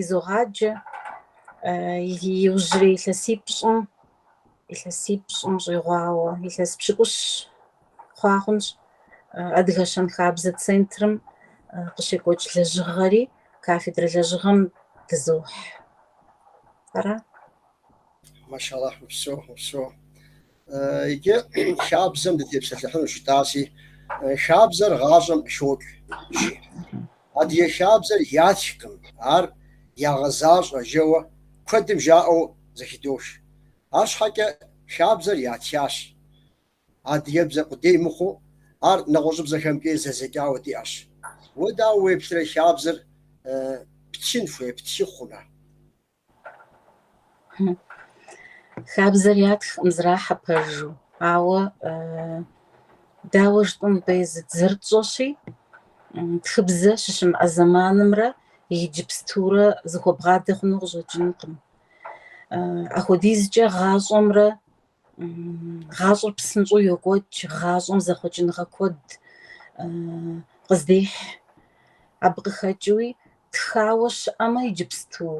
изогъаджэ иужьрей илъэсипщӏым, илъэсипщӏым щӏигъуауэ, илъэс пщыкӏущ хъуа хъунщ Адыгэ щэнхабзэ центрым къыщекӏуэкӏ лэжьыгъэри, кафедрэ лэжьыгъэм дызохь. Ара? Машаллахь, упсэу, упсэу. Иджы хабзэм дытепсэлъыхьынущ, жытӏаси, хабзэр гъащӏэм къыхокӏ, жи. Адыгэ хабзэр ятхкъым, ар ягъэзащӏэ, жэуэ куэдым жаӏэу зэхыдох. Арщхьэкӏэ хабзэр ятхащ. Адыгэбзэ къудей мыхъуу, ар нэгъуэщӏыбзэхэмкӏи зэдзэкӏауэ диӏэщ. Уэ дауэ уеплърэ хабзэр птхын хуей, птхы хъуну? Хабзэр ятхкъым зэрахьэ пэжу, ауэ дауэ жытӏэн хуей, зы, зэрытщӏэщи, тхыбзэ щыщымыӏэ зэманымрэ иджыпстурэ зэхуэбгъадэ хъуну къыщӏэкӏынкъым. Апхуэдизкӏэ гъащӏэмрэ гъащӏэр псынщӏэу йокӏуэкӏ, гъащӏэм зэхъуэкӏыныгъэ куэд къыздехь. Абы къыхэкӏыуи тхауэ щыӏэмэ иджыпсту,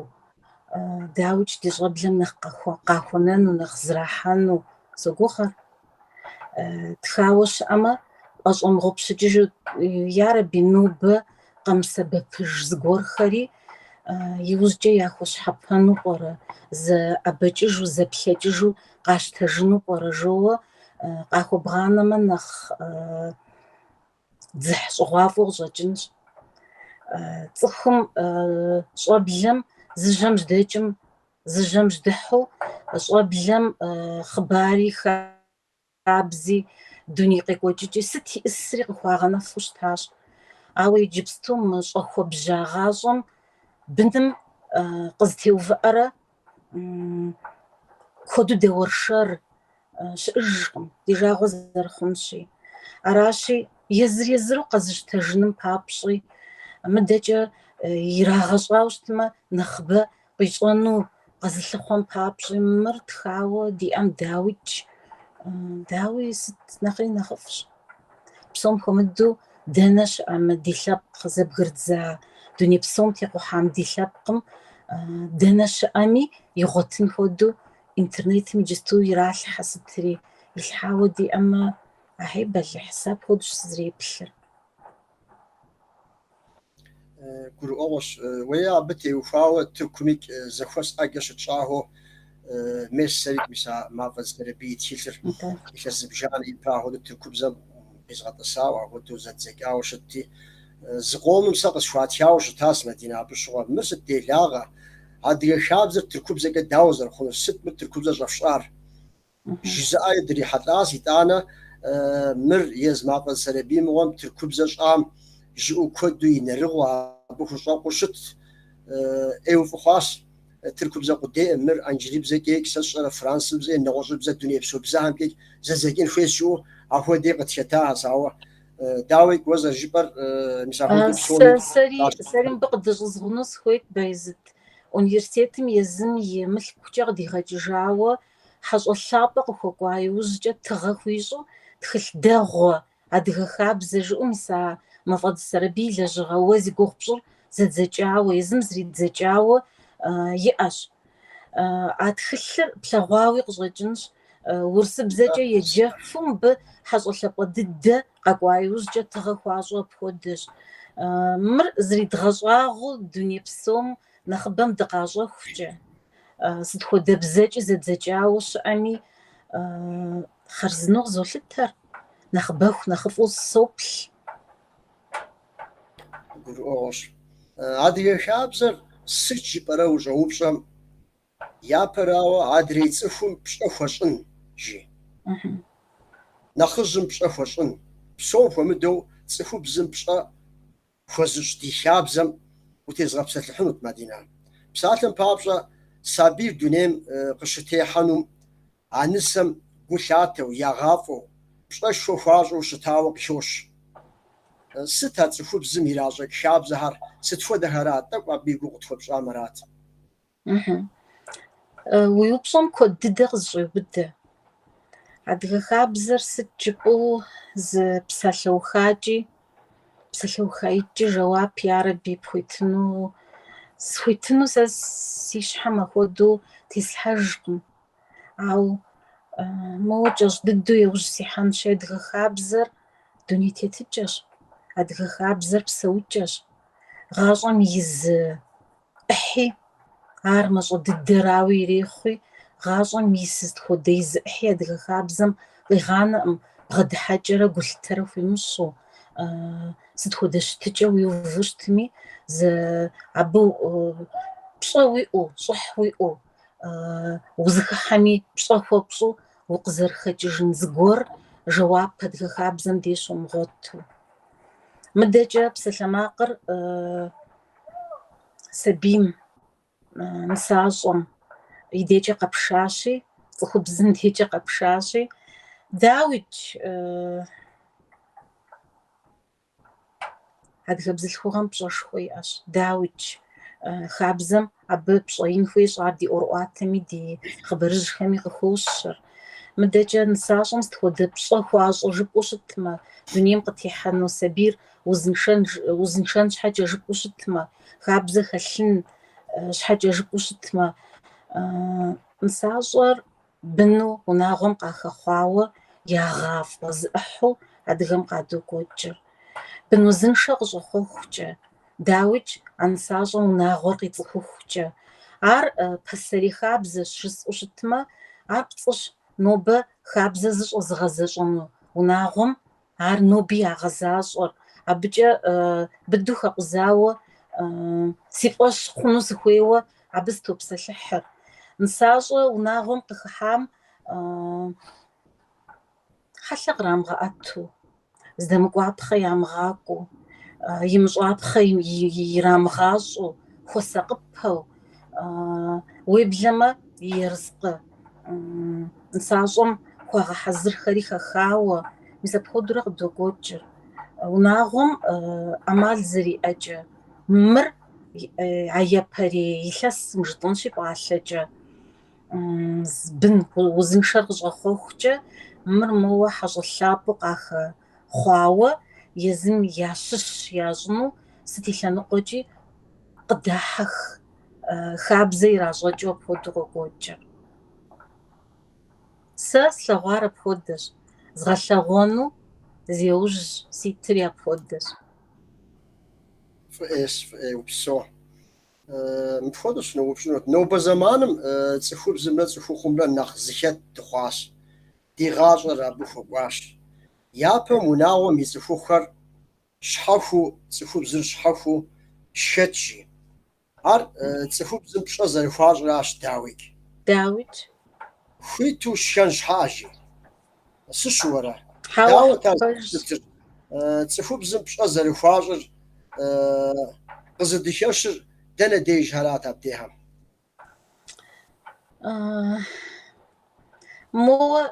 дауикӏ, ди щӏэблэм нэхъ къахуэнэну, нэхъ зэрахьэну согугъэр. Тхауэ щыӏэмэ, ӏэщӏэмыгъупщыкӏыжу, ярэби, нобэ къэмысэбэпыж зыгуэрхэри, Иужькӏэ яхуэщхьэпэну пӏэрэ, зэӏэбэкӏыжу, зэплъэкӏыжу къащтэжыну пӏэрэ жоуэ, къахуэбгъанэмэ нэхъ дзыхь щӏыгъуафӏэу къыщӏэкӏынщ. Цӏыхум, щӏэблэм зы жьэм жьэдэкӏым, зы жьэм жьэдыхьэу щӏэблэм хъыбари Хабзи, дуней къекӏуэкӏыкӏи, сыт ищӏысри къыхуагъэнэфу щытащ. Ауэ иджыпсту мы щӏэхуэбжьа гъащӏэм быным къызэтеувыӏэрэ куэду дэуэршэр щыӏэжкъым, ди жагъуэ зэрыхъунщи. Аращи, езыр-езыру къэзыщтэжыным папщӏи, мыдэкӏэ ирагъэщӏауэ щытмэ, нэхъыбэ Къищӏэну къэзылъыхъуэм папщӏи мыр тхауэ диӏэм дауикӏ, дауи сыт нэхъри нэхъыфӏщ. Псом хуэмыдэу дэнэ щыӏэ мы ди лъэпкъ къызэбгырдза, дуней псом текъухьам ди лъэпкъым дэнэ щыӏэми игъуэтын хуэдэу интернетым иджысту иралъхьэ сытри, илъхьауэ диӏэмэ ахьей бэлыхь, сэ апхуэдэущ сызэреплъыр. гурыӏуэгъуэщ. Уеи, абы теухуауэ тыркумикӏ зэхуэс ӏэджэ щытщӏахэу мис сэрикӏ, мис а Мафӏэдз Сэрэбий и тхылъыр илъэс зыбжанэ ипэ ахуэдэу тыркубзэм къизгъэтӏысауэ, ахуэдэу зэддзэкӏауэ щытти, зы къомым сэ къысхуатхауэ щытащ Мадинэ абы щыгъуэ, Мыр сыт делагъэ? Адыгэ хабзэр тыркубзэкӏэ дауэ зэрыхъунур? Сыт мыр тыркубзэр щӏэфщӏар? Жызыӏэи дрихьэлӏащ, итӏанэ мыр езы Мафӏэдз Сэрэбий мыгъуэм тыркубзэ щӏам жиӏэу куэду и нэрыгъыу абы хущӏэкъуу щыт. ӏейуэ фӏы хъуащ. Тыркубзэ къудейӏым мыр, анджылыбзэкӏэикӏ, сэ сщӏэрэ, францыбзэ е нэгъуэщӏыбзэ дунейпсо бзэхэмкӏэикӏ, зэдзэкӏын хуейщ жыӏэу ахуэдэи къытхэтахэщ. Ауэ дауикӏ, уэ зэрыжыпӏэр мис ахуэдэ псоми къащтэ. Сэри мыбы къыдыщӏызгъуну сыхуейт, Байзыт. Университетым езым и мылъкукӏэ къыдигъэкӏыжауэ Хьэщӏэ лъапӏэ къыхуэкӏуа иужькӏэ тыгъэ хуищӏу тхылъ дэгъуэ, адыгэ хабзэ жыӏэу мис а Мафӏэдз Сэрэбий и лэжьыгъэ уэ зи гугъу пщӏыр зэдзэкӏауэ, езым зэридзэкӏауэ иӏэщ. А тхылъыр плъэгъуауи къыщӏэкӏынщ, урысыбзэкӏэ еджэфу мыбы хьэщӏэ лъапӏэ дыдэ къэкӏуа иужькӏэ тыгъэ хуащӏу апхуэдэщ. Мыр зридгъэщӏагъуэу дуней псом нэхъыбэм дыкъащӏэхукӏэ. сыт хуэдэ бзэкӏи зэдзэкӏауэ щыӏэми хъарзынэу къызолъытэр нэхъыбэху нэхъыфӏу соплъ гурыӏуэгъуэщ адыгэ хабзэр сыт жыпӏэрэ ущӏэупщӏэм япэрауэ адрей цӏыхум пщӏэ хуэщӏын жи нэхъыжьым пщӏэ хуэщӏын псом хуэмыдэу цӏыхубзым пщӏэ Хуэзыщӏ ди хабзэм утезгъэпсэлъыхьынут, Мадинэ. Псалъэм папщӏэ, сабийр дунейм къыщытехьэнум, а нысэм гу лъатэу, ягъафӏэу, пщӏэшхуэ хуащӏу щытауэ къыхощ. Сыт а цӏыхубзым иращӏэкӏ хабзэхэр, сыт хуэдэхэрат, тӏэкӏу абы и гугъу къытхуэпщӏам арат. Уи упщӏэм куэд дыдэ къызэщӏеубыдэ. Адыгэ хабзэр сыт жыпӏэу зы псалъэухакӏи, псалъэухаикӏи жэуап ярэби пхуитыну, схуитыну сэ си щхьэм ахуэдэу теслъхьэжкъым. Ауэ моуэ кӏэщӏ дыдэу еужь сихьэнщи, адыгэ хабзэр дуней тетыкӏэщ, адыгэ хабзэр псэукӏэщ. Гъащӏэм и зы ӏыхьи, ар мащӏэ дыдэрауи ирехъуи, гъащӏэм и сыт хуэдэ и зы ӏыхьи адыгэ хабзэм къигъанэкъым, бгъэдыхьэкӏэрэ гулъытэрэ хуимыщӏу, сыт хуэдэ щытыкӏэ уиуву щытми, зэи абы пщӏэ уиӏэу, щӏыхь уиӏэу, узыхыхьэми пщӏэ хуэпщӏу укъызэрыхэкӏыжын зыгуэр жэуап адыгэ хабзэм деж щомыгъуэту. Мыдэкӏэ псалъэмакъыр сабийм, нысащӏэм и декӏэ къэпшащи, цӏыхубзым декӏэ къэпшащи, дауикӏ, адыгэ бзылъхугъэм пщӏэшхуэ иӏэщ, дауикӏ, хабзэм абы пщӏэ ин хуещӏ, ар ди ӏуэрыӏуатэми ди хъыбарыжьхэми къыхощэр. Мыдэкӏэ нысащӏэм сыт хуэдэ пщӏэ хуащӏрэ жыпӏэу щытмэ, дунейм къытехьэну сабийр узыншэн, узыншэн щхьэкӏэ жыпӏэу щытмэ, хабзэ хэлъын щхьэкӏэ жыпӏэу щытмэ, нысащӏэр Быну унагъуэм къахэхъуауэ ягъафӏэ зы ӏыхьэу адыгэм къадокӏуэкӏыр. Бын узыншэ къыщӏэхъуэхукӏэ, дауикӏ, а нысащӏэм унагъуэр къицӏыхухукӏэ. Ар пасэрей хабзэщ жысӏэу щытмэ, ар пцӏыщ нобэ хабзэ зыщӏэзыгъэзэщӏэну унагъуэм Ар ноби ягъэзащӏэр. Абыкӏэ быдэу хэкъузауэ си фӏэщ хъуну сыхуейуэ абы сытопсэлъыхьыр. Нысащӏэ унагъуэм къыхыхьам хьэлъэ кърамыгъэӏэту, здэмыкӏуапхъэ ямыгъакӏуэу, имыщӏапхъэ ирамыгъащӏэу, хуэсакъыпэу, Уеблэмэ и ерыскъы нысащӏэм хуагъэхьэзырхэри хэхауэ, мис апхуэдэурэ къыдокӏуэкӏыр. Унагъуэм ӏэмал зэриӏэкӏэ, мыр а япэрей илъэсым жытӏэнщи пӏалъэкӏэ, бын узыншэр къыщӏэхъуэхукӏэ, мыр моуэ хьэщӏэ лъапӏэу къахэ хъуауэ езым ящыщ ящӏыну сыт и лъэныкъуэкӏи къыдахьэх, хабзэ иращӏэкӏыу апхуэдэу къокӏуэкӏыр. Сэ слъэгъуар апхуэдэщ, згъэлъэгъуэну зеужь ситыр апхуэдэщ. Фӏыӏейщ, фӏыӏей, упсэу. Мыпхуэдэу сыноупщӏынут. Нобэ зэманым цӏыхубзымрэ цӏыхухъумрэ нэхъ зыхэт дыхъуащ. ди гъащӏэр абы хуэкӏуащ. Япэм унагъуэм и цӏыхухъухэр щхьэхуу, цӏыхубзыр щхьэхуу шхэт жи. Ар цӏыхубзым пщӏэ зэрыхуащӏращ дауикӏ. Дауикӏ. Хуиту шхэн щхьэкӏэ жи. Сыщыуэрэ? Дауэт ар зэрыщытыр, цӏыхубзым пщӏэ зэрыхуащӏыр, къызыдыхэщыр дэнэ дежхэрат абдехэм? Моуэ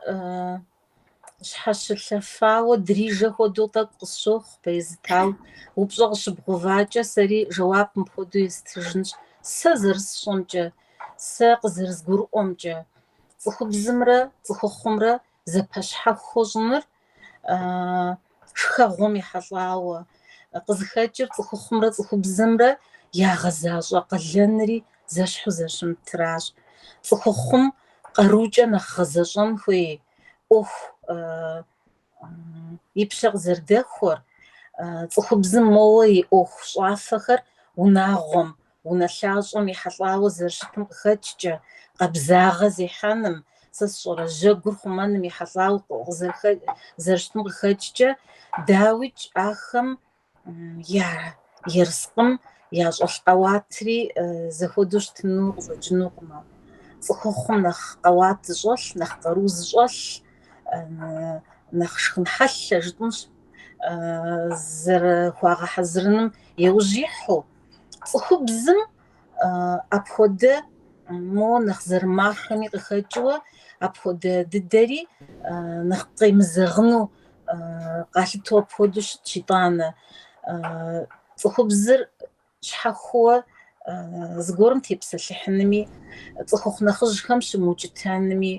щхьэщылъэфауэ дрижэ хуэдэу тӏэкӏу къысщохъу, пэезытау. Упщӏэ къыщыбгъувакӏэ, сэри жэуап мыпхуэдэу естыжынщ, сэ зэрысщӏэмкӏэ, сэ къызэрызгурыӏуэмкӏэ, цӏыхубзымрэ цӏыхухъумрэ зэпэщхьэхуэу щӏыныр шхэгъуэм ехьэлӏауэ къызыхэкӏыр цӏыхухъумрэ цӏыхубзымрэ ягъэзащӏэ къалэнри зэщхьу зэщымытращ. Цӏыхухъум къарукӏэ нэхъ гъэзэщӏэн хуей ӏуэху и пщэ къызэрыдэхуэр, цӏыхубзым моуэ и ӏуэху щӏафэхэр унагъуэм унэлъащӏэм ехьэлӏауэ зэрыщытым къыхэкӏкӏэ, къабзагъэ зехьэным, сэ сщӏэрэ, жьэгур хъумэным ехьэлӏауэ зэрыщытым къыхэкӏкӏэ, дауикӏ, ахэм я ерыскъым ящӏэлъ къэуатри зэхуэдэу щытыну къыщӏэкӏынукъымэ. Цӏыхухъум нэхъ къэуат зыщӏэлъ, нэхъ къару зыщӏэлъ, нэхъ шхын хьэлъэ жытӏэнщ, зэрыхуагъэхьэзырыным еужь ихьу. цӏыхубзым апхуэдэ моуэ нэхъ зэрымахэми къыхэкӏыуэ апхуэдэ дыдэри нэхъ къемызэгъыну къалъыту апхуэдэу щытщ итӏанэ. Цӏыхубзыр щхьэхуэу зыгуэрым тепсэлъыхьынми, цӏыхухъу нэхъыжьхэм щымыукӏытэнми,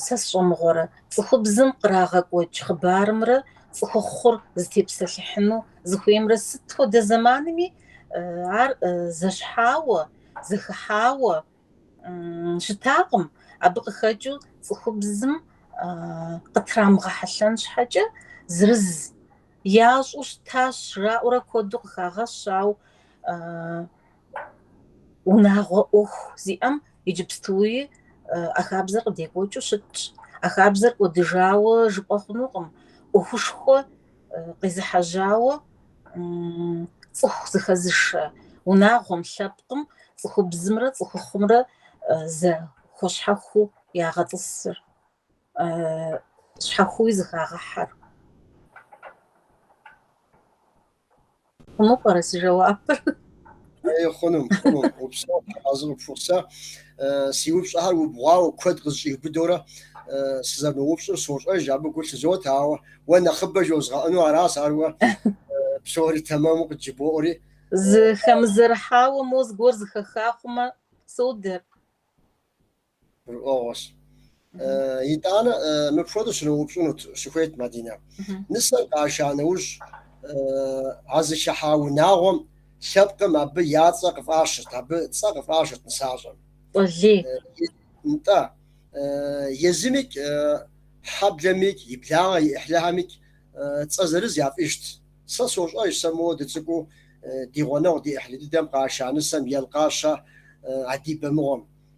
Сэ сщӏэмыгъуэрэ, цӏыхубзым кърагъэкӏуэкӏ хъыбарымрэ цӏыхухъур зытепсэлъыхьыну зыхуеймрэ сыт хуэдэ зэманми ар зэщхьауэ, зэхыхьауэ щытакъым, абы къыхэкӏыу цӏыхубзым къытрамыгъэхьэлъэн щхьэкӏэ зырыз ящӏу щытащ жраӏэурэ куэду къыхагъэщ, ауэ унагъуэ ӏуэху зиӏэм иджыпстуи а хабзэр къыдекӏуэкӏыу щытщ. А хабзэр кӏуэдыжауэ жыпӏэ хъунукъым. ӏуэхушхуэ къезыхьэжьауэ цӏыху зыхэзышэ унагъуэм, лъэпкъым цӏыхубзымрэ цӏыхухъумрэ зэхуэщхьэхуу ягъэтӏысыр. щхьэхуи зыхагъэхьэр. Хъуну пӏэрэ си жэуапыр? Ей, хъуну, хъуну, упсэу, тхьэразэ къыпхухъу. Сэ си упщӏэхэр убгъуауэ куэд къызэщӏиубыдэурэ сызэрыноупщӏыр сощӏэж, абы гу лъызот, ауэ уэ нэхъыбэ жозгъэӏэну аращ, ар уэ псори тэмэму къыджыбоӏури. Зыхэмызэрыхьауэ мо зыгуэр зыхэха хъумэ, содэр. гурыӏуэгъуэщ. Итӏанэ мыпхуэдэу щыноупщӏынут, щыхуейт Мадинэ. Нысэр къаша нэужь, а зыхыхьа унагъуэм лъэпкъым абы я цӏэ къыфӏащырт, абы цӏэ къыфӏащырт нысащӏэм. Цӏэлей. Нтӏэ. Езымикӏ, хьэблэмикӏ, и благъэ и ӏыхьлыхэмикӏ цӏэ зырыз яфӏищт. Сэ сощӏэж, сэ моуэ дыцӏыкӏуу ди гъунэгъу ди ӏыхьлы дыдэм къаша нысэм Елкъащэ Адибэ мыгъуэм.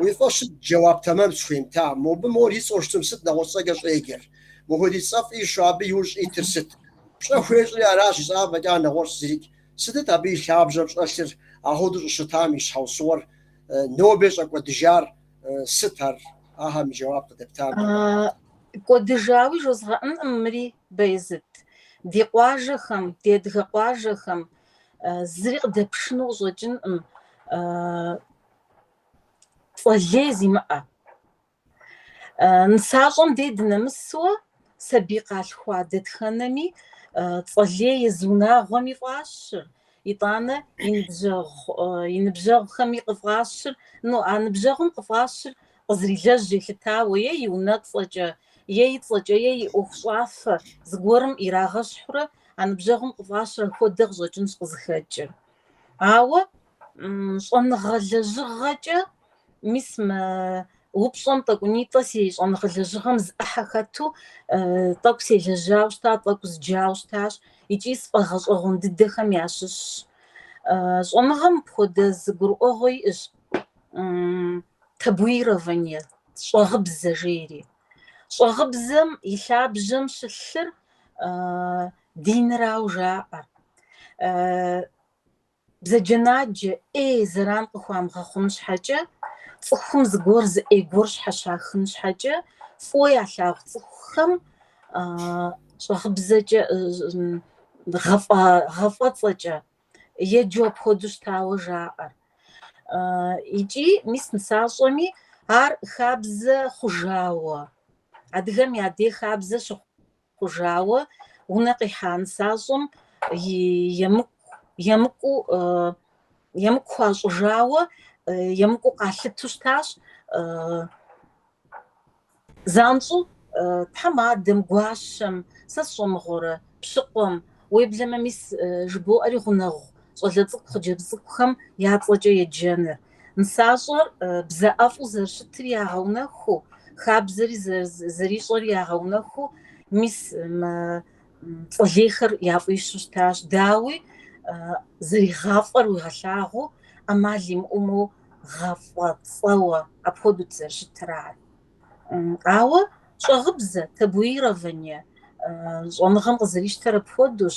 Уи фӏэщ щӏы, джэуап тэмэм схуемыта. Мобы мор и цӏэу щытым сыт нэгъуэщӏ цӏэкӏэ щӏеджэр? Мыхуэдиз цӏэ фӏищу абы иужь щӏитыр сыт? Пщӏэ хуещӏри аращ жысӏа фӏэкӏа нэгъуэщӏ зырикӏ. Сытыт абы и лъабжьэм щӏэлъыр, а хуэдэу щӏыщытам и щхьэусыгъуэр нобэ щӏэкӏуэдыжар сыт ар? Ахэм и джэуап къыдэптам. Кӏуэдыжауи жозгъэӏэнкъым мыри, Бэйзыт. Ди къуажэхэм, ди адыгэ къуажэхэм зыри къыдэпшыну къыщӏэкӏынкъым. Цӏэлей зимыӏэ. Нысащӏэм дей дынэмысуэ сабий къалъхуа дэтхэнэми, цӏэлей езы унагъуэми фӏащыр, итӏанэ и ныбжьэгъу, и ныбжьэгъухэми къыфӏащыр, ну, а ныбжьэгъум къыфӏащыр къызэрилэжь елъытауэ е и унэцӏэкӏэ, е и цӏэкӏэ, е и ӏуэхущӏафэ зыгуэрым ирагъэщхьурэ а ныбжьэгъум къыфӏащыр ахуэдэ къыщӏэкӏынщ къызыхэкӏыр. Ауэ щӏэныгъэ лэжьыгъэкӏэ мис мы упщӏэм тӏэкӏунитӏэ си щӏэныгъэ лэжьыгъэм зы ӏыхьэ хэту тӏэкӏу селэжьауэ щыта, тӏэкӏу зджауэ щытащ икӏи сфӏэгъэщӏэгъуэн дыдэхэм ящыщщ. Щӏэныгъэм мыпхуэдэ зы гурыӏуэгъуэ иӏэщ табуирование, щӏэгъыбзэ жери. Щӏэгъыбзэм и лъабжьэм щылъыр динырауэ жаӏэ. Бзаджэнаджэ ӏей зэран къыхуамыгъэхъун щхьэкӏэ, цӏыхум зыгуэр зы ӏей гуэр щхьэщахын щхьэкӏэ, фӏыуэ ялъагъу цӏыхухэм щӏагъыбзэкӏэ, гъэфӏэцӏэкӏэ еджэу апхуэдэу щытауэ жаӏэр. Икӏи мис нысащӏэми ар хабзэ хъужауэ, адыгэм я дей хабзэ щыхъу хъужауэ унэ къихьа нысащӏэм емыкӏуу хуащӏыжауэ, емыкӏуу къалъыту щытащ занщӏэу тхьэмадэм, гуащэм, сэ сщӏэ мыгъуэрэ, пщыкъуэм, уеблэмэ мис жыбоӏэри гъунэгъу щӏалэ цӏыкӏу, хъыджэбз цӏыкӏухэм я цӏэкӏэ еджэныр, Нысащӏэр бзэ ӏэфӏу зэрыщытыр ягъэунэхуу, хабзэри зэрищӏэри ягъэунэхуу, мис мы цӏэлейхэр яфӏищу щытащ. Дауи, зэригъафӏэр уигъэлъагъуу, ӏэмал имыӏэу моуэ гъэфӏэцӏэуэ апхуэдэут зэрыщытыр ар. Ауэ щӏагъыбзэ, табуирование, щӏэныгъэм къызэрищтэр апхуэдэущ.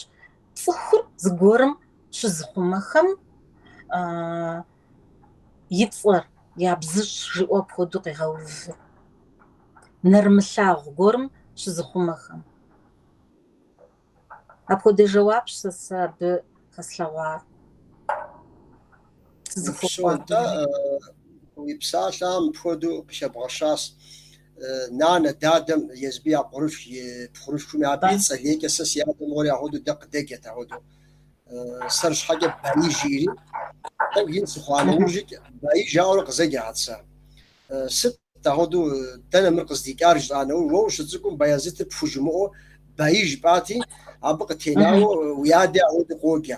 Цӏыхур зыгуэрым щызыхъумэхэм и цӏэр ябзыщӏ жиӏэу апхуэдэу къегъэувыр, нэрымылъагъу гуэрым щызыхъумэхэм. Апхуэдэ жэуапщ сэ сэ абы хэслъэгъуар. Сызыхуэкӏуэ. Упсо, атӏэ, уи псалъэм мыпхуэдэу къыхэбгъэщащ. нанэ, дадэм, езыби я пхъурылъ, и пхъурылъхуми абы и цӏэлейкӏэ сэ си адэ мыгъуэри ахуэдэу дэ къыдэджэт ахуэдэу. Сэр щхьэкӏэ Баи жиӏэри, тӏэкӏу ин сыхъуа нэужьыкӏ, Баи жаӏэурэ къызэджэт сэ. Сыт ахуэдэу, дэнэ мыр къыздикӏар жытӏа нэужь, уэ ущыцӏыкӏум Баязытыр пхужымыӏуэу Баи жыпӏати, абы къытенауэ уи адэ ахуэдэу къоджэ.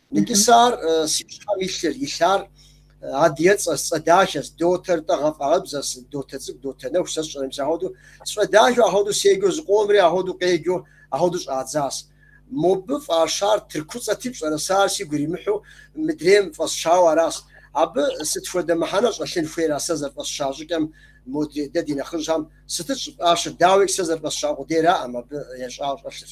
Икӏи сэ ар си щхьэм илъыр, илъар адыгэцӏэс, цӏэ дахэс, Дотэр-тӏэ гъэфӏагъыбзэс, Дотэ цӏыкӏу, Дотэ нэху, сэ сщӏэрым, сэ ахуэду сфӏэдахэу, ахуэду седжэу зыкъомри, ахуэду къеджэу, ахуэду щӏадзас. Мобы фӏащар тыркуцӏэти пщӏэрэ сэ ар сигу иримыхьу мыдрейм фӏэсщауэ арас. Абы сыт хуэдэ мыхьэнэ щӏэлъын хуейр а сэ зэрыфӏэсща щӏыкӏэм, модрей дэ ди нэхъыжьхэм сытыт щӏыфӏащыр, дауикӏ сэ зэрыфӏэсща къудейраӏым абы ещӏауэ щӏэлъыр.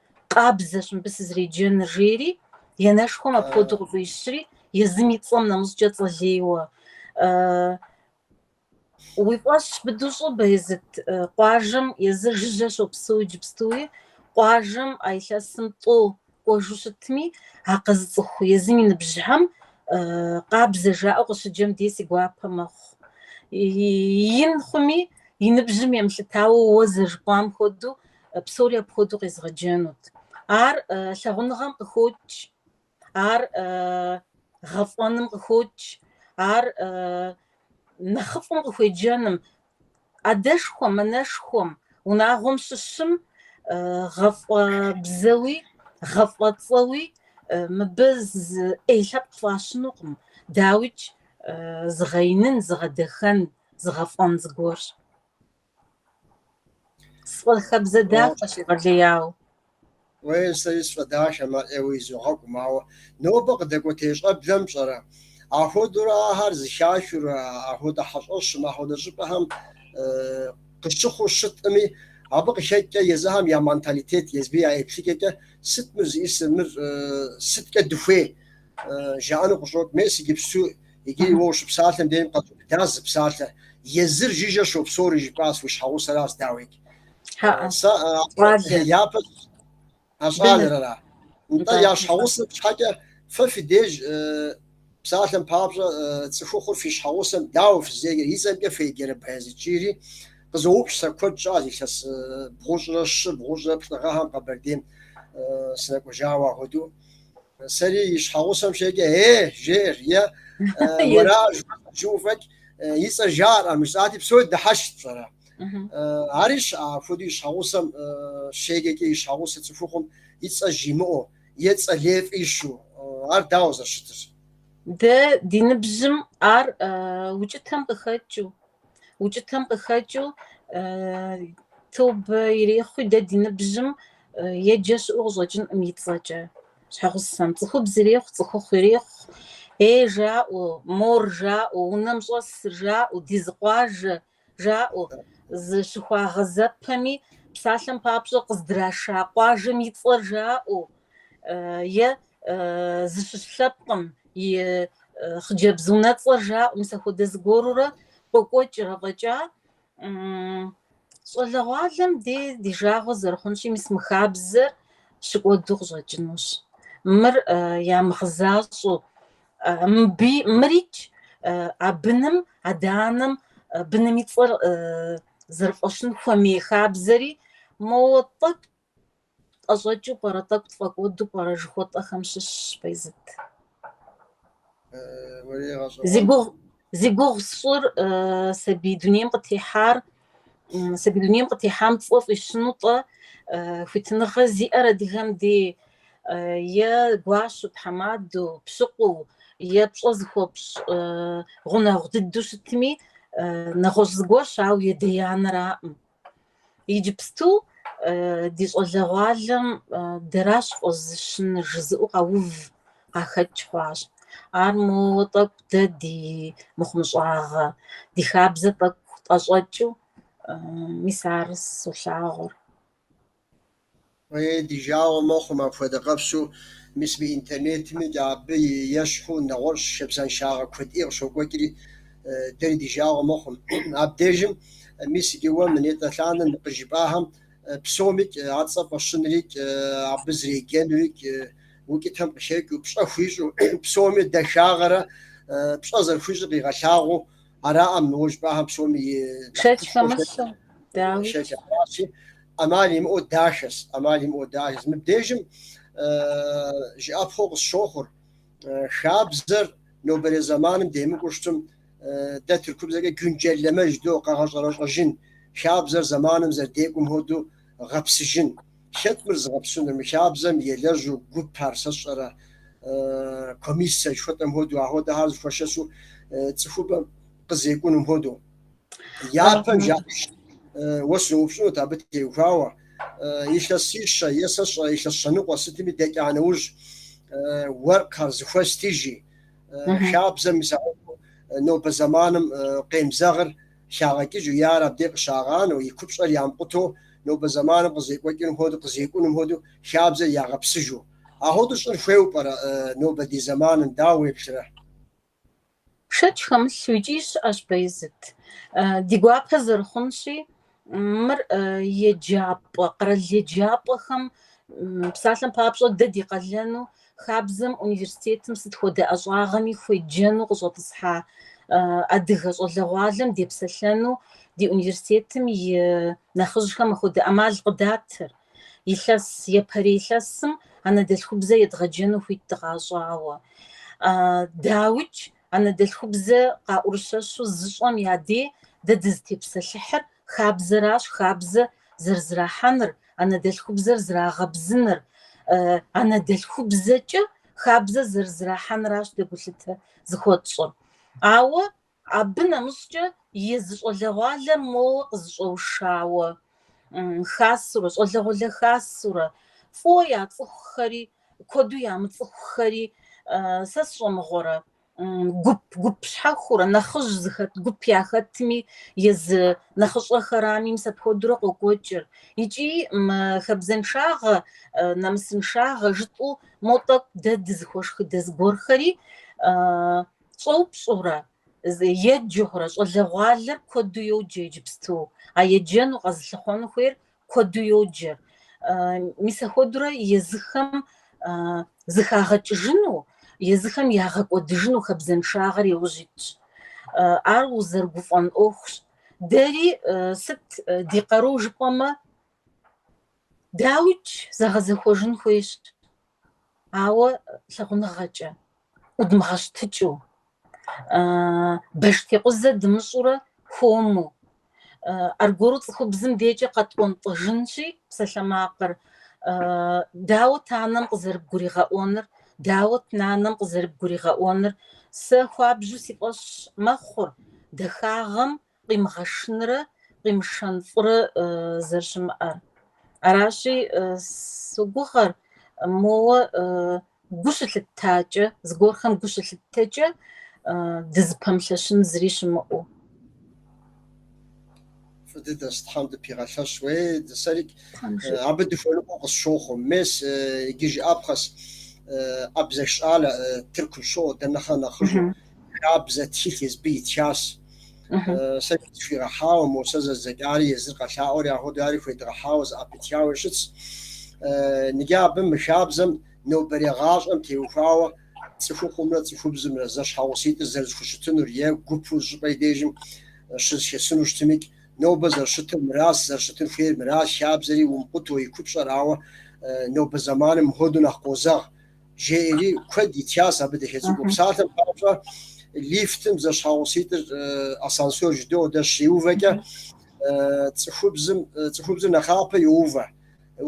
Къабзэщ мыбы сызреджэныр, жери, и анэшхуэм апхуэдэу къыфӏищри, езым и цӏэм нэмыщӏкӏэ цӏэлейуэ, Уи фӏэщ быдэу щӏы, Баязыт, къуажэм езыр жыжьэ щопсэу иджыпстуи, къуажэм а илъэсым тӏэу кӏуэжу щытми, а къэзыцӏыху езым и ныбжьхэм Къабзэ жаӏэу къыщыджэм дей си гуапэ мэхъу. Ин хъуми, и ныбжьым емылъытауэ уэ зэрыжыпӏам хуэдэу псори апхуэдэу къезгъэджэнут. Ар лъагъуныгъэм къыхокӏ, ар гъэфӏэным къыхокӏ, ар нэхъыфӏым къыхуеджэным, адэшхуэм, анэшхуэм, унагъуэм щыщым гъэфӏэбзэуи, гъэфӏэцӏэуи мыбы ӏей лъэпкъ фӏащынукъым, дауикӏ зыгъэинын, зыгъэдэхэн, зыгъэфӏэн зыгуэрщ. Сфӏэхабзэ дахэщ егъэлеяуэ. Уей, сэри сфӏэдахэ, мэӏеуэ изогъэкӏу, ауэ нобэ къыдэкӏуэтей щӏэблэм пщӏэрэ? Ахуэдурэ ахэр зыхахыу, ахуэдэ хьэщӏэщым, ахуэдэ щӏыпӏэхэм къыщыхъуу щытӏыми, абы къыхэкӏкӏэ езыхэм я менталитет, езыми я еплъыкӏэкӏэ сыт мыр зиӏисыр, мыр сыткӏэ дыхуей жаӏэну къыщӏокӏ. Мес иджыпсту Иджыри уэ ущыпсалъэм дейм къэзубыдащ зы псалъэ, Езыр жыжьэ щопсори жыпӏащ, уи щхьэгъусэращ дауикӏ. ХьэӀэ, Сэ а, щӏалэ. япэ а щӏалэрара? Нтӏэ, Нтӏэ, я щхьэгъусэ нтӏэ. щхьэкӏэ фэ фи деж э, псалъэм папщӏэ э, цӏыхухъур фи щхьэгъусэм дауэ фызеджэр? И цӏэмкӏэ феджэрэ Баязыт? жиӏэри къызоупщӏ сэ куэд щӏащ илъэс э, бгъущӏрэ щы бгъущӏрэ плӏы гъэхэм Къэбэрдейм э, сынэкӏуэжауэ ахуэдэу. Сэри и щхьэгъусэм щеджэкӏэ, ей жеӏэр, ей уэра жиӏэу фӏэкӏ, и цӏэ жаӏэрӏым жысӏати, псори дыхьэшхт, пщӏэрэ. Ари апхуэдэу и щхьэгъусэм щеджэкӏэ и щхьэгъусэ цӏыхухъум и цӏэ жимыӏэу, е цӏэ лей фӏищу, ар дауэ зэрыщытыр? Дэ ди ныбжьым ар укӏытэм къыхэкӏыу, укӏытэм къыхэкӏыу тобэ ирехъуи дэ ди ныбжьым Еджэ щыӏэу къыщӏэкӏынкъым и цӏэкӏэ. Щхьэгъусэм цӏыхубз ирехъу, цӏыхухъу ирехъу, ей жаӏэу, мор жаӏэу, унэм щӏэсыр жаӏэу, ди зы къуажэ жаӏэу, зыщыхуагъэзэпэми, псалъэм папщӏэ къыздраша къуажэм и цӏэр жаӏэу, е зыщыщ лъэпкъым и хъыджэбз унэцӏэр жаӏэу, мис ахуэдэ зыгуэрурэ къокӏуэкӏыр. Афӏэкӏа Щӏалэгъуалэм дей ди жагъуэ зэрыхъунщи, мис мы хабзэр щыкӏуэду къыщӏэкӏынущ. Мыр ямыгъэзащӏэу, мыбы мырикӏ а быным, адэ-анэм быным и цӏэр зэрыфӏащын хуэмей хабзэри, моуэ тӏэкӏу Тӏэщӏэкӏыу пӏэрэ, тӏэкӏу тфӏэкӏуэду пӏэрэ жыхуэтӏэхэм щыщщ Бэйзыт. Зи гугъу, зи гугъу сщӏыр сабий дунейм къытехьар, сабий дунейм къытехьам цӏэ фӏищыну тӏэ хуитыныгъэ зиӏэр адыгэм дей е гуащэу, тхьэмадэу, пщыкъуу, е пщӏэ зыхуэпщӏ гъунэгъу дыдэу щытми, нэгъуэщӏ зыгуэрщ, ауэ и адэ и анэраӏым. Иджыпсту ди щӏалэгъуалэм дэращ фӏэзыщын жызыӏэу къэув къахэкӏ хъуащ. Ар моуэ тӏэкӏу дэ ди мыхъумыщӏагъэ, ди хабзэ тӏэкӏу тӏэщӏэкӏыу, мис ар солъагъур. Е, ди жагъуэ мэхъу мы апхуэдэ къэфщу, мис мы интернетмикӏ абы ещхьу нэгъуэщӏ хабзэншагъэ куэд ӏей къыщокӏуэкӏри, дэри ди жагъуэ мэхъум. Абдежым, мис иджы уэ мы нетӏэ лъанэм къыжыпӏахэм псомикӏ а цӏэ фӏэщынрикӏ, абы зэреджэнурикӏ, укӏытэм къыхэкӏыу, пщӏэ хуищӏу, псоми дахагъэрэ пщӏэ зэрыхуищӏыр къигъэлъагъуу араӏэ мы уэ жыпӏахэм псоми. Шэч хэмылъу, дауи? Аращи, ӏэмал имыӏэу дашэс, ӏэмал имыӏэу дашэс. Мыбдежым жыӏэпхъуэу къысщохъур, хабзэр нобэрей зэманым демыкӏуу щытым, дэ тыркубзэкӏэ güncelleme жыдоӏэ, къэгъэщӏэрэщӏэжын, хабзэр зэманым зэрыдекӏум хуэдэу гъэпсыжын. Хэт мыр зыгъэпсынур? Мы хабзэм елэжьу гуп ар сэ сщӏэрэ, комиссэ жыхуэтӏэм хуэдэу, ахуэдэхьэр зэхуэшэсу цӏыхубэм къызекӏунум хуэдэу. Япэм жаӏащ. Уэ сыноупщӏынут абы теухуауэ. Илъэсищэ, е сэ сщӏэ, илъэс щэныкъуэ сытми дэкӏа нэужь, уэркъхэр зэхуэстыжи, хабзэм и сагъыфӏу нобэ зэманым къемызэгъыр хагъэкӏыжу е ар абдей къыщагъанэу, и купщӏэр ямыкъутэу, нобэ зэманым къызекӏуэкӏыным хуэдэу, къызекӏуным хуэдэу хабзэр ягъэпсыжу. Ахуэдэу щӏыр хуейуэ пӏэрэ нобэ ди зэманым, дауэ уеплърэ? Шэч хэмылъу икӏи щыӏэщ Бэйзыт. Ди гуапэ зэрыхъунщи, мыр еджапӏэ, къэрал еджапӏэхэм, псалъэм папщӏэ, дэ ди къалэну, хабзэм, университетым сыт хуэдэ ӏэщӏагъэми хуеджэну къыщӏэтӏысхьа адыгэ щӏалэгъуалэм депсэлъэну ди университетым и нэхъыжьхэм ахуэдэ ӏэмал къыдатыр. Илъэс япэрей илъэсым анэдэлъхубзэ едгъэджэну хуит дыкъащӏауэ. Дауикӏ, анэдэлъхубзэ къаӏурыщэщу зыщӏэм я дей дэ дызытепсэлъыхьыр хабзэращ, хабзэ зэрызэрахьэныр, анэдэлъхубзэр зэрагъэбзэныр, анэдэлъхубзэкӏэ хабзэ зэрызэрахьэныращ дэ гулъытэ зыхуэтщӏыр. Ауэ Абы нэмыщӏкӏэ езы щӏалэгъуалэр моуэ къызэщӏэушауэ хасурэ, щӏалэгъуалэ хасурэ, фӏыуэ яцӏыхухэри, куэду ямыцӏыхухэри, сэ сщӏэмыгъуэрэ, гуп, гуп щхьэхурэ, нэхъыжь зыхэт гуп яхэтми, езы нэхъыщӏэхэрами, мис апхуэдурэ къокӏуэкӏыр. Икӏи мы хабзэншагъэ, нэмысыншагъэ жытӏэу мо тӏэкӏу дэ дызыхуэшхыдэ зыгуэрхэри Щӏэупщӏэурэ, еджэхэурэ щӏалэгъуалэр куэду йоджэ иджыпсту, а еджэну къэзылъыхъуэну хуейр куэду йоджэ. Мис ахуэдурэ езыхэм зэхагъэкӏыжыну, езыхэм ягъэкӏуэдыжыну хабзэншагъэр яужь итщ. Ар узэрыгуфӏэн ӏуэхущ. Дэри сыт ди къару жыпӏэмэ, дауикӏ, зэгъэзэхуэжын хуейщ. Ауэ лъагъуныгъэкӏэ, ӏудмыгъэщтыкӏыу, баштекъузэ дымыщӏурэ хуэму, аргуэру цӏыхубзым декӏэ къэтӏуэнтӏыжынщи псалъэмакъыр, дауэт анэм къызэрыбгуригъэӏуэныр, дауэт нанэм къызэрыбгуригъэӏуэныр, сэ хуабжьу си фӏэщ мэхъур, дахагъэм къимыгъэшынрэ къимышэн фӏырэ зэрыщымыӏэр. Аращи, согугъэр, моуэ гу щылъыттакӏэ, зыгуэрхэм гу щылъыттэкӏэ дызыпэмылъэщын зыри щымыӏэу. Фӏы дыдэс, Тхьэм дыпигъэлъэщ, уей, дэ, сэрик абы дыхуэныкъуэу къысщохъу. Мес, иджы жыӏэпхъэс, абзэх щӏалэ, Тыркум щыӏэу, дэ нэхърэ нэхъыжьу. хабзэ тхылъ езыбы итхащ. Сэ зы къысхуигъэхьауэ, мо сэ зэздзэкӏари езыр къэлъаӏуэри ахуэду ари хуедгъэхьауэ зэӏэпытхауэ щытщ. Ныкӏэ абы мы хабзэм нобэрей гъащӏэм теухуауэ цӏыхухъумрэ цӏыхубзымрэ зэщхьэгъуситӏыр зэрызэхущытынур е гупу зы щӏыпӏэ и дежым щызэхэсыну щытымикӏ, нобэ зэрыщытыр мыращ, зэрыщытын хуейр мыращ, хабзэри умыкъуту и купщӏэр, ауэ нобэ зэманым мыхуэдэу нэхъ къозэгъ, жеӏэри куэд итхяс абы дахэ цӏыкӏуу псалъэм папщӏэ лифтым зэщхьэгъуситӏыр ассансор жыдоӏэ дэ щриувэкӏэ цӏыхубзым цӏыхубзыр нэхъапэ йоувэ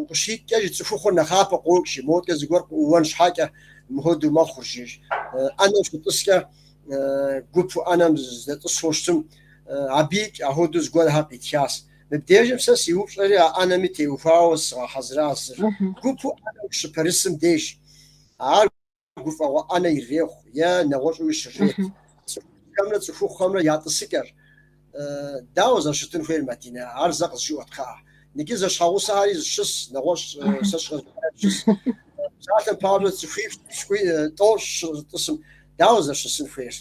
укъыщикӏкӏэ жи цӏыхухъур нэхъапэ къокӏ жи модэкӏэ зыгуэр къыӏууэн щхьэкӏэ мыхуэдэу мэхъур жи ӏэнэм щытӏыскӏэ гупу ӏэнэм здэтӏысу щытым абикӏ ахуэдэу зыгуэрхэр къитхяс Мыбдежым сэ си упщӏэри а ӏэнэми теухуауэ сыгъэхьэзыращ зыр. Гупу ӏэнэу щыпэрысым деж ар гуфӏэгъуэ ӏэнэ ирехъу е нэгъуэщӏуи щрет. Цӏыхухэмрэ цӏыхухъухэмрэ я тӏысыкӏэр дауэ зэрыщытын хуейр, Мадинэ, ар зэ къызжеӏэт, кхъыӏэ. Ныкӏи зэщхьэгъусэхэри щыс, нэгъуэщӏ сэ сщӏэрэ щыс. Псалъэм папщӏэ, цӏыхуипщӏ тӏощӏ тӏысым дауэ зэрыщысын хуейр?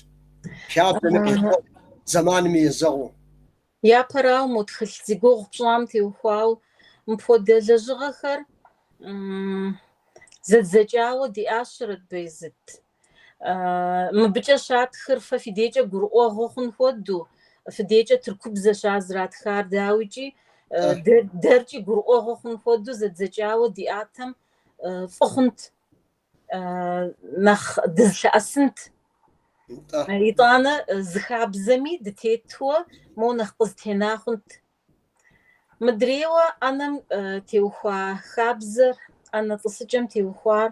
Хабзэми къекӏуу, зэманми езэгъыу. Япэрауэ, мо тхылъ зи гугъу пщӏам теухуауэ мыпхуэдэ лэжьыгъэхэр зэдзэкӏауэ диӏащэрэт Бейзыт. Мыбыкӏэ щатхыр фэ фи декӏэ гурыӏуэгъуэ хъун хуэдэу, фи декӏэ тыркубзэщ ар зратхар, дауикӏи, дэркӏи гурыӏуэгъуэ хъун хуэдэу зэдзэкӏауэ диӏатэм фӏы хъунт. нэхъ дызлъэӏэсынт. Итӏанэ зы хабзэми дытетуэ мо нэхъ къызэтена хъунт. Мыдрейуэ ӏэнэм теухуа хабзэр, ӏэнэ тӏысыкӏэм теухуар,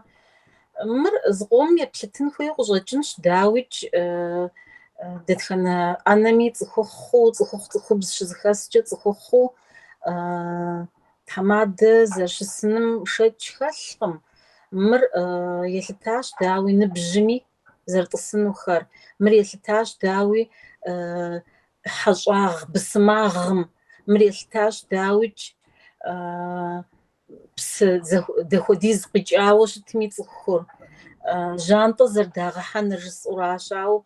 мыр зыкъом еплъытын хуейу къыщӏэкӏынщ, дауикӏ, дэтхэнэ ӏэнэми цӏыхухъуу, цӏыхухъу цӏыхубз щызыхэскӏэ цӏыхухъуу, Тхьэмадэ зэрыщысыным шэч хэлъкъым. Мыр елъытащ, дауи, ныбжьми зэрытӏысынухэр. Мыр елъытащ, дауи, хьэщӏагъ бысымагъым. Мыр елъытащ, дауикӏ, псы дахуэдиз къикӏауэ щытми цӏыхур. Жьантӏэ зэрыдагъэхьэныр жысӏэуращ, ауэ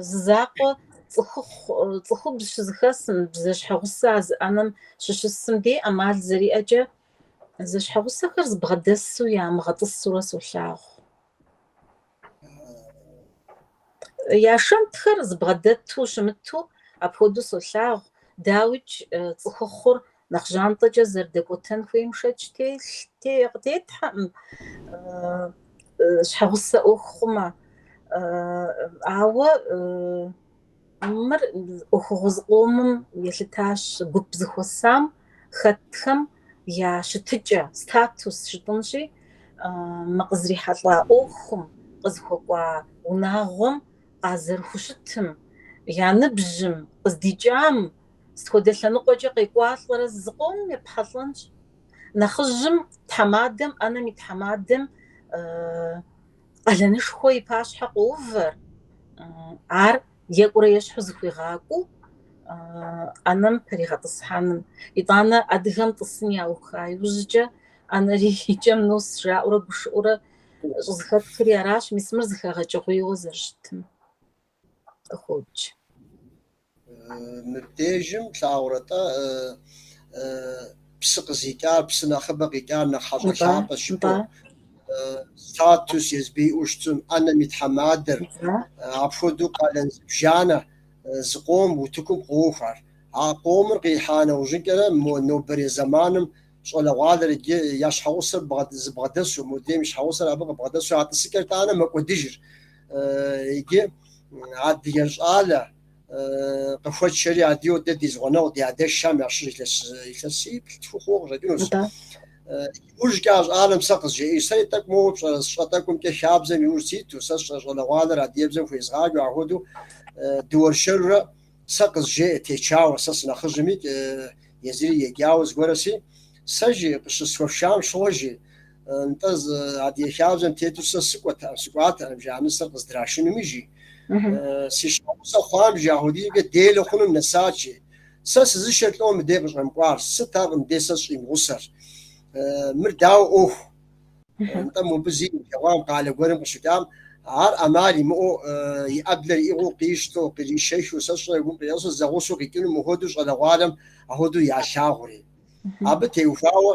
Зы закъуэ цӏыхухъу, цӏыхубз щызыхэсым, зэщхьэгъусэ а зы ӏэнэм щыщысым дей ӏэмал зэриӏэкӏэ, зэщхьэгъусэхэр зэбгъэдэсу ямыгъэтӏысурэ солъагъу. Я шэнтхэр зэбгъэдэту щымыту апхуэдэу солъагъу, дауикӏ цӏыхухъур Нэхъ жьантӏэкӏэ зэрыдэкӏуэтэн хуейм шэч къытетхьэкъым, щхьэгъусэ ӏуэху хъумэ. Ауэ мыр ӏуэхугъуэ зыкъомым елъытащ гуп зыхуэсам хэтхэм я щытыкӏэ, статус жытӏэнщи, мы къызрихьэлӏа ӏуэхум, къызыхуэкӏуа унагъуэм къазэрыхущытым, я ныбжьым, къыздикӏам Сыт хуэдэ лъэныкъуэкӏэ къекӏуалӏэрэ зыкъомым епхьэлӏэнщ. Нэхъыжьым тхьэмадэм, ӏэнэм и тхьэмадэм къалэнышхуэ и пащхьэ къоувэр, ар екӏурэ ещхьу зыхуигъакӏуэу ӏэнэм пэригъэтӏысхьэным. Итӏанэ адыгэм тӏысын яуха иужькӏэ ӏэнэри икӏэм нос жаӏэурэ гушыӏэурэ щӏызыхэтхри аращ, мис мыр зыхэгъэкӏыгъуейуэ зэрыщытым. къыхуоупч. Мыбдежым плъагъурэ-тӏэ, псы къызикӏар, псы нэхъыбэ къикӏар нэхъ хьэщӏэ лъапӏэщ жыпӏэу. Статус езбы иӏэу щытым, ӏэнэм и тхьэмадэр, апхуэдэу къалэн зыбжанэ зы къом утыкум къохьэр. А къомыр къихьа нэужьынкӏэрэ мо нобэрей зэманым щӏалэгъуалэр иджы я щхьэгъусэр зыбгъэдэсу, модрейм и щхьэгъусэр абы къыбгъэдэсу а тӏысыкӏэр тӏанэ мэкӏуэдыжыр. иджы адыгэ щӏалэ къыхуэтшэри адыгэу дэ ди зы гъунэгъу ди адэшхэм ящыщ илъэс илъэсиплӏ-тху хъуауэ къыщӏэкӏынущ. Иужькӏэ а щӏалэм сэ къызжеӏэж, сэри тӏэкӏу моуэ пщӏэрэ сщӏэ тӏэкӏумкӏэ хабзэм иужь ситу, сэ сщӏэ щӏалэгъуалэр адыгэбзэм хуезгъаджэ, ахуэдэу дыуэршэрурэ Сэ къызжеӏэ течауэ, сэ сынэхъыжьми езыри еджауэ зыгуэрэси. Сэ жи, къыщысхуэфшам щыгъуэ жи. Нтӏэ, зы адыгэ хабзэм тету сэ сыкӏуэтэкъым, сыкӏуатэкъым жи, а нысэр къыздрашынум жи. Си щхьэгъусэ хъуам жи, ахуэдизкӏэ делэ хъунум нэсат жи. Сэ сызышэр лӏо мыдей къыщӏэмыкӏуар, сыт ар мыдей сэ сщӏимыгъусэр? Мыр дауэ ӏуэху? Нтӏэ, мобы зилъэгъуам къалэ гуэрым къыщыкӏам, ар ӏэмал имыӏэу, и ӏэблэр иӏыгъыу къищтэу, къришэхыу, сэ сщӏэрэ гум къиӏэщӏэу зэгъусэу къикӏыну мыхуэдэу щӏалэгъуалэм ахуэдэу ялъагъури. Абы теухуауэ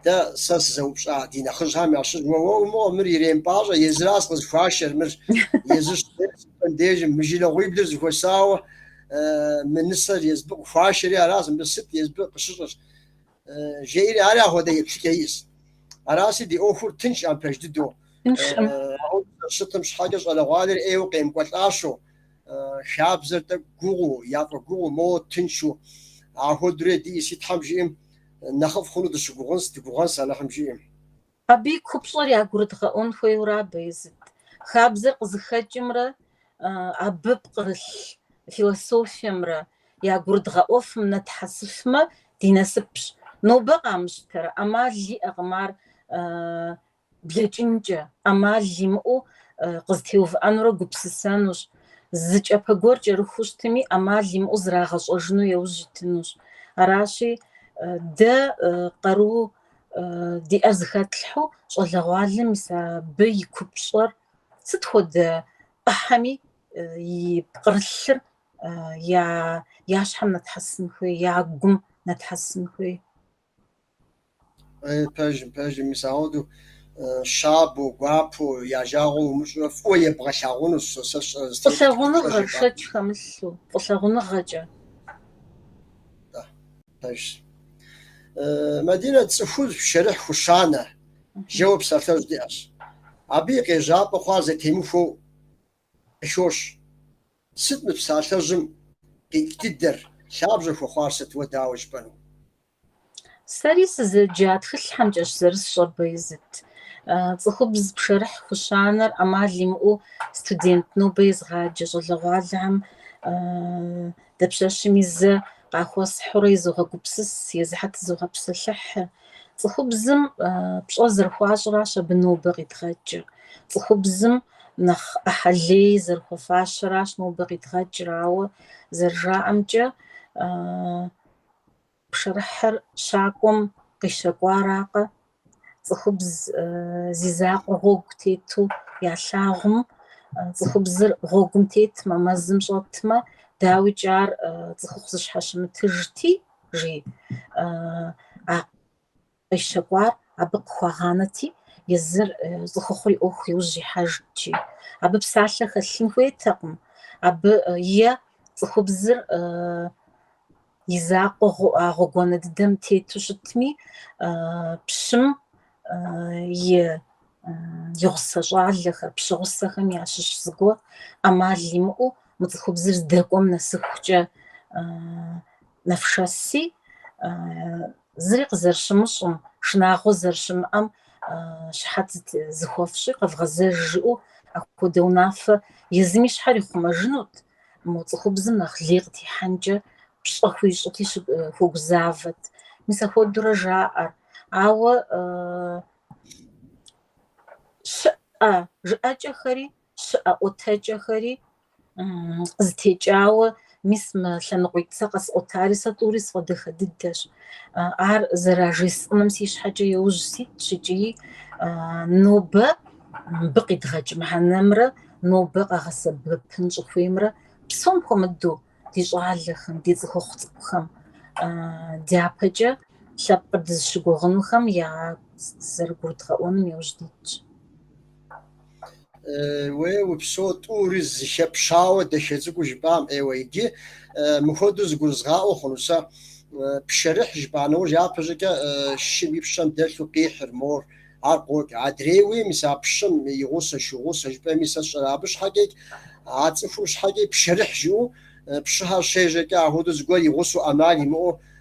дэ сэ сызэупщӏа ди нэхъыжьхьэм ящыщ, Уэ, уэ, умыгъуэ, мыр иремыпӏащӏэ, езыращ къызыхуашэр, мыр езыр щӏыпӏейм сыпӏэм дежи, мы жылэгъуиблыр зыхуэсауэ мы нысэр езбы къыхуашэри аращ, мыбы сыт езбы къыщыщӏыр? Жеӏэри ар ахуэдэ еплъыкӏэ иӏэс. Араси ди ӏуэхур тыншкъым пэж дыдэу. Щытым щхьэкӏэ щӏалэгъуалэр ӏейуэ къемыкӏуэлӏащэу, хабзэр тӏэкӏу гугъуу, яфӏэгугъуу, моуэ тыншу. Ахуэдурэ диӏэси, Тхьэм жиӏэм, нэхъыфӏ хъуну дыщыгугъынс, дыгугъэнс Алыхьым жиӏэм. Абы и купщӏэр ягурыдгъэӏуэн хуейуэ ара Баязыт? Хабзэр къызыхэкӏымрэ абы пкърылъ философиемрэ ягурыдгъэӏуэфым нэтхьэсыфмэ, ди насыпщ. Нобэ къамыщтэрэ? ӏэмал иӏэкъым ар блэкӏынкӏэ, ӏэмал имыӏэу къызэтеувыӏэнурэ гупсысэнущ. Зы кӏапэ гуэр кӏэрыхуу щытми, ӏэмал имыӏэу зрагъэщӏэжыну яужь итынущ. Аращи, дэ къару диӏэр зыхэтлъхьэу щӏалэгъуалэм мис абы и купщӏэр сыт хуэдэ ӏыхьэми и пкърылъыр я я щхьэм нэтхьэсын хуей, я гум нэтхьэсын хуей. Пэжым, пэжым, мис ахуэдэу щабэу, гуапэу, я жагъуэ умыщӏурэ фӏыуэ ебгъэлъагъунущ сэ сэ сщӏэ. Фӏылъагъуныгъэ шэч хэмылъу, фӏылъагъуныгъэкӏэ. Пэжщ. Мадинэ цӏыхубз пшэрыхь хущанэ, жэуэ псалъэжь диӏэщ. Абы и къежьапӏэ хъуар зэтемыхуэу къыхощ. Сыт мы псалъэжьым къикӏ дыдэр, лъабжьэ хуэхъуар сыт, уэ дауэ жыпӏэну? Сэри сызэджа тхылъхьэмкӏэщ зэрысщӏэр абы и зыт. Цӏыхубз пшэрыхь хущанэр ӏэмал имыӏэу студент нобэ езгъаджэ щӏалэгъуалэхэм Дапщэщми зэ къахуэсхьурэ изогъэгупсыс, езыхьэр тызогъэпсэлъыхь. Цӏыхубзым пщӏэ зэрыхуащӏыращ абы нобэ къидгъэкӏыр. Цӏыхубзым нэхъ ӏыхьэ лей зэрыхуэфащэращ нобэ къидгъэкӏыр, ауэ зэрыжаӏэмкӏэ, Пшэрыхьыр щакӏуэм къищэкӏуаракъэ, цӏыхубз зи закъуэ гъуэгу тету ялъагъум, цӏыхубзыр гъуэгум тетмэ, мэзым щӏэтмэ, дауикӏ ар цӏыхухъу зыщхьэщымытыжти, жи, а Къищэкӏуар абы къыхуагъанэти, езыр цӏыхухъур и ӏуэху иужь ихьэжт икӏи. Абы псалъэ хэлъын хуейтэкъым, абы е цӏыхубзыр и закъуэ гъуэгуанэ дыдэм тету щытми, пщым и гъусэ щӏалэхэр, пщыгъусэхэм ящыщ зыгуэр ӏэмал имыӏэу мы цӏыхубзыр здэкӏуэм нэсыхукӏэ нэфшэси, Зыри къызэрыщымыщӏым, шынагъуэ зэрыщымыӏэм щыхьэт зыхуэфщӏи къэвгъэзэж жыӏэу ахуэдэ унафэ езыми щхьэр ихъумэжынут, мы цӏыхубзым нэхъ лей къытехьэнкӏэ пщӏэ хуищӏыти хуэгузавэт. Мис ахуэдэурэ жаӏэр. Ауэ щыӏэ жыӏэкӏэхэри щыӏэ ӏуэтэкӏэхэри къызытекӏауэ, мис мы лъэныкъуитӏ сэ къэсӏуэтари сэ тӏури сфӏэдэхэ дыдэщ. Ар зэражесӏэным си щхьэкӏэ иужь ситщ икӏи нобэ мыбы къидгъэкӏ мыхьэнэмрэ нобэ къагъэсэбэпын щӏыхуеймрэ псом хуэмыдэу ди щӏалэхэм, ди цӏыхухъу цӏыкӏухэм дяпэкӏэ лъэпкъыр дызыщыгугъынухэм язэрыгурыдгъэӏуэнум иужь дитщ. уей упсэу тӏури зэхэпщауэ дахэ цӏыкӏу жыпӏам ӏейуэ иджы мыхуэду зыгурызгъаӏуэ хъуну сэ пшэрыхь жыпӏа нэужь япэ щӏыкӏэ шым и пщэм дэлъу къихьыр мор ар къокӏ адрей уей мис а пщым и гъусэ шу гъусэ жыпӏэми сэ сщӏэрэ абы щхьэкӏэ а цӏыхум щхьэкӏэ пшэрыхь жыӏэу пщыхьэр щежьэкӏэ ахуэду зыгуэр и гъусэу ӏэмал имыӏэу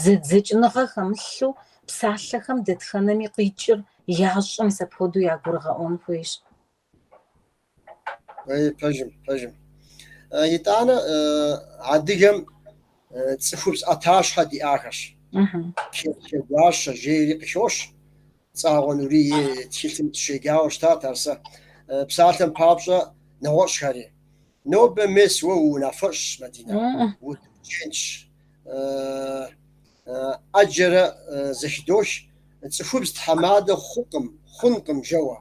Зэдзэкӏыныгъэ хэмылъу псалъэхэм дэтхэнэми къикӏыр ящӏэм мис апхуэдэу ягурыгъэӏуэн хуейщ. Ей, пэжым, пэжым. Э, Итӏанэ э, адыгэм э, цӏыхубз ӏэтащхьэ диӏахэщ. Чегуащэ жейри къыхощ. Цӏагъуэ Нурий и тхылъым сыщеджауэ щытат ар сэ. Э, Псалъэм папщӏэ нэгъуэщӏхэри. Нобэ мес уэ уунафэщӏщ, Мадинэ, удочентщ, ӏэджэрэ зэхыдох, цӏыхубз тхьэмадэ хъукъым, хъункъым, жэуэ.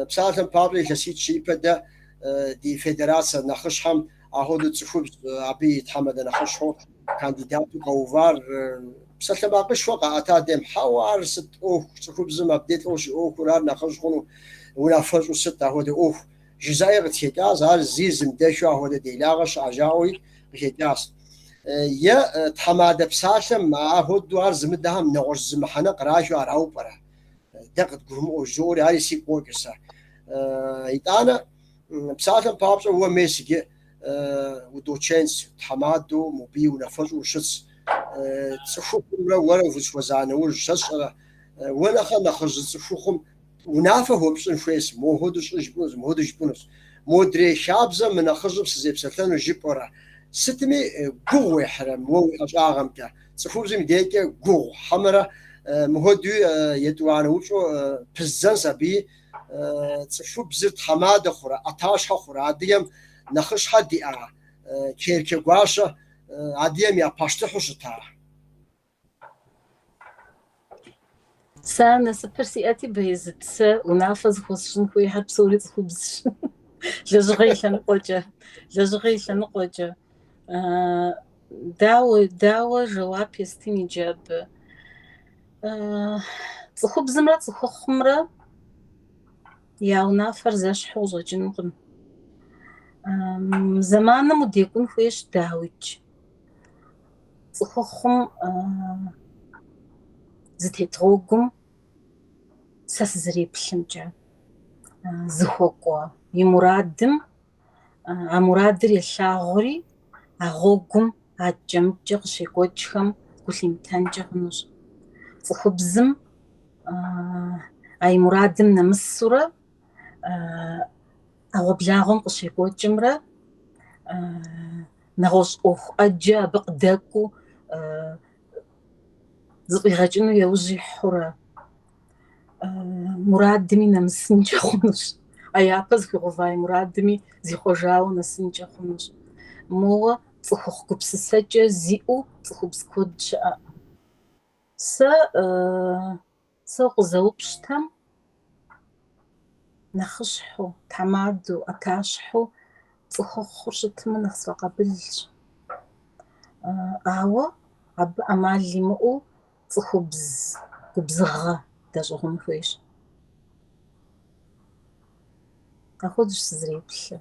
Псалъэм папщӏэ, илъэситӏ-щы ипэ дэ ди федерацэ нэхъыщхьэм ахуэдэу цӏыхубз абы и тхьэмадэ нэхъыщхьэу кандидату къэувар псалъэмакъышхуэ къаӏэта дем, хьэуэ, ар сыт ӏуэху, цӏыхубзым абде лӏэу щиӏуэхур ар нэхъыжь хъуну, унафэщӏу сыт ахуэдэ ӏуэху? Жызыӏаи къытхекӏащ, ар зи зымыдэхэу ахуэдэ делагъэ щыӏэ жаӏэуи къыхекӏащ. Е тхьэмадэ псалъэм ахуэдэу ар зымыдэхэм нэгъуэщӏ зы мыхьэнэ кърахыу арау пӏэрэ? Дэ къыдгурымыӏуэу жызоӏэри ари сигу къокӏыр сэ. Итӏанэ, псалъэм папщӏэ уэ мес иджы удочентс, тхьэмадэу мобы и унафэщӏу ущытс. Цӏыхухъумрэ уэрэ фызэхуэза нэужь, сэ сщӏэрэ, уэ нэхърэ нэхъыжь зы цӏыхухъум Унафэ хуэпщӏын хуейс, мохуэду щӏы жыпӏэнущ, мыхуэду жыпӏэнущ. Модрей хабзэм мы нэхъыжьым сызепсэлъэну жыпӏэурэ. Сытми гугъу уехьрэ мы уэ уи ӏэщӏагъэмкӏэ? Цӏыхубзым и декӏэ гугъу хьэмэрэ мыхуэдуи етӏуанэ упщӏэу пыздзэнщ абыи? Цӏыхубзыр тхьэмадэ хъурэ, ӏэтащхьэ хъурэ? Адыгэм нэхъыщхьэ диӏа Керчэгуащэ адыгэм я пащтыхьу щытара? Сэ а насыпыр сиӏэти, Беезыт, сэ унафэ зыхуэсщӏын хуейхэр псори цӏыхубзщ. Лэжьыгъэ и лъэныкъуэкӏэ. Лэжьыгъэ и лъэныкъуэкӏэ. Дауэ, дауэ жэуап естын иджы абы. Цӏыхубзымрэ цӏыхухъумрэ я унафэр зэщхьу къыщӏэкӏынукъым. Зэманым удекӏун хуейщ, дауикӏ. цӏыхухъум зытет гъуэгум сэ сызэреплъымкӏэ зыхуэкӏуэ и мурадым а мурадыр елъагъури а гъуэгум адэкӏэ-мыдэкӏэ къыщекӏуэкӏхэм гу лъимытэнкӏэ хъунущ. Цӏыхубзым а и мурадым нэмысурэ ӏэгъуэблагъуэм къыщекӏуэкӏымрэ нэгъуэщӏ ӏуэху ӏэджэ абы къыдэкӏуэу зэфӏигъэкӏыну яужь ихьурэ. Мурадми нэмысынкӏэ хъунущ, а япэ зыхуигъэува и мурадми зихъуэжауэ нэсынкӏэ хъунущ. Моуэ цӏыхухъу гупсысэкӏэ зиӏэу цӏыхубз куэд щыӏэкъым. Сэ Сэ укъызэупщӏтэм нэхъыщхьэу, тхьэмадэу, ӏэтащхьэу цӏыхухъур щытмэ, нэхъ сфӏэкъабылщ. Ауэ абы ӏэмал имыӏэу цӏыхубз губзыгъэ дэщӏыгъун хуейщ. Ахуэдэущ сызэреплъыр.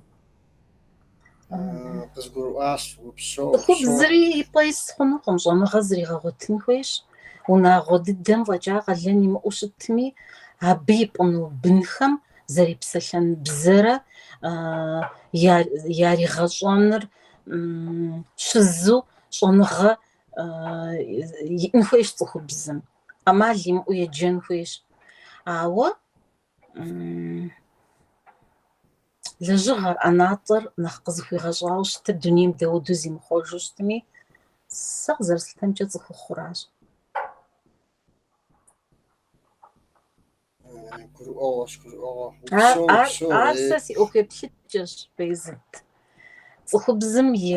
къызгурыӏуащ, упсэу. Цӏыхубзри и пӏэ ис хъунукъым, щӏэныгъэ зригъэгъуэтын хуейщ. Унагъуэ дыдэм фӏэкӏа къалэн имыӏэу щытми, абы ипӏыну бынхэм зэрепсэлъэн бзэрэ яригъэщӏэныр щизу щӏэныгъэ иӏэн хуейщ цӏыхубзым, ӏэмал имыӏэу еджэн хуейщ. Ауэ. Лэжьыгъэр, ӏэнатӏэр нэхъ къызыхуигъэщӏауэ щытыр дунейм дауэдэу зимыхъуэжу щытми, сэ къызэрыслъытэмкӏэ цӏыхухъуращ. Гурыӏуэгъуэщ, гурыӏуэгъуэ. Ар, упсэу, ар, упсэу, ар сэ си ӏуэхуеплъыкӏэщ, Бейзыт. Цӏыхубзым и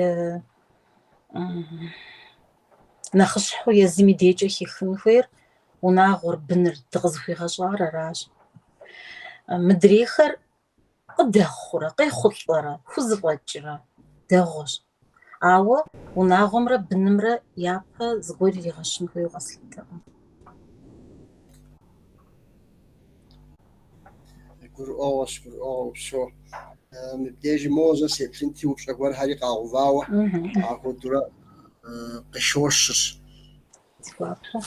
м, Нэхъыщхьэу езым и дежкӏэ хихын хуейр унагъуэр, быныр дыкъызыхуигъэщӏар аращ. Мыдрейхэр къыдэхъурэ, къехъулӏэрэ, хузэфӏэкӏрэ дэгъуэщ. Ауэ унагъуэмрэ бынымрэ япэ зыгуэр иригъэщын хуейуэ къэслъытэкъым. Гурыӏуэгъуэщ, гурыӏуэгъуэ упсэу. Мыбдежым моуэ зэ сеплъынти упщӏэ гуэрхэри къагъэувауэ, ахуэдурэ къыщощыр. Сгуапэ.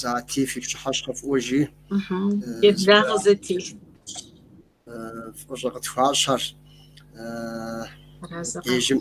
Зати фи пщыхьэщхьэ фӏыуэ жи. Еблагъэ Зати. Фӏыщӏэ къытхуащӏыр. Мыбдежым.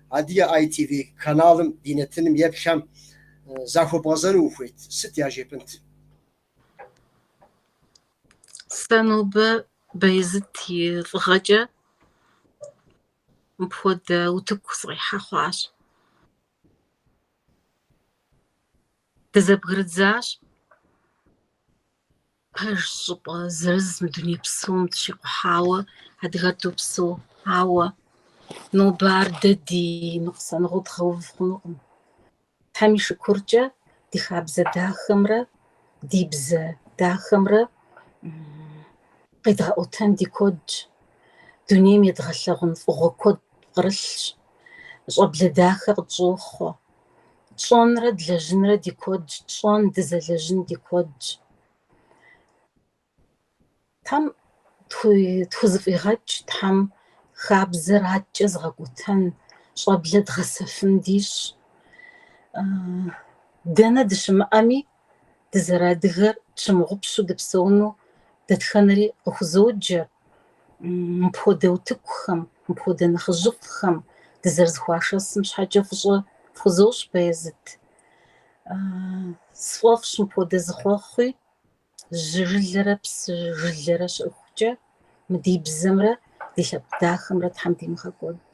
Адыгэ ITV каналым ди нэтыным еплъхэм захуэбгъэзэну ухуейт, сыт яжепӏынт? Сэ нобэ Баязыт и лӏыгъэкӏэ мыпхуэдэ утыку сыкъихьэ хъуащ. Дызэбгрыдзащ Пэж щӏыпӏэ зырыз мы дуней псом дыщикъухьауэ адыгэр допсэу, ауэ нобэ ар дэ ди ныкъусаныгъэу дгъэув хъунукъым. Тхьэм и шыкуркӏэ ди хабзэ дахэмрэ ди бзэ дахэмрэ къедгъэӏуэтэн ди куэдщ. Дунейм едгъэлъэгъун фӏыгъуэ куэд кърылъщ, щӏэблэ дахэ къытщӏохъуэ. тщӏэнрэ длэжьынрэ ди куэдщ, тщӏэн, дызэлэжьын ди куэдщ. Тхьэм тхузэфӏигъэкӏ, Тхьэм хабзэр адэкӏэ зыгъэкӏуэтэн, щӏэблэ дгъэсэфын дищӏ. Дэнэ дыщымыӏэми, дызэрадыгэр тщымыгъупщу дыпсэуну дэтхэнэри къыхузоджэ, мыпхуэдэ утыкухэм, мыпхуэдэ нэхъыжьыфӏхэм дызэрызэхуашэсым щхьэкӏэ фӏыщӏэ фхузощӏ, Баязыт. Сфӏэфӏщ мыпхуэдэ зы хъуэхъуи, жьы жылэрэ псы жылэрэ щыӏэхукӏэ, мы ди бзэмрэ ди лъэпкъ дахэмрэ Тхьэм димыгъэкӏуэд.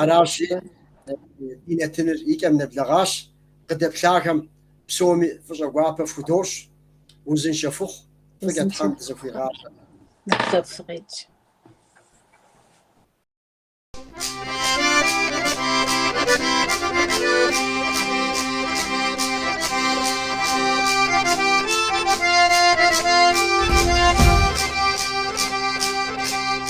Аращи, ди нэтыныр и кӏэм нэблэгъащ, къыдэплъахэм псоми фӏыщӏэ гуапэ фхудощӏ, узыншэ фыхъу, фӏыкӏэ Тхьэм дызэхуигъазэ.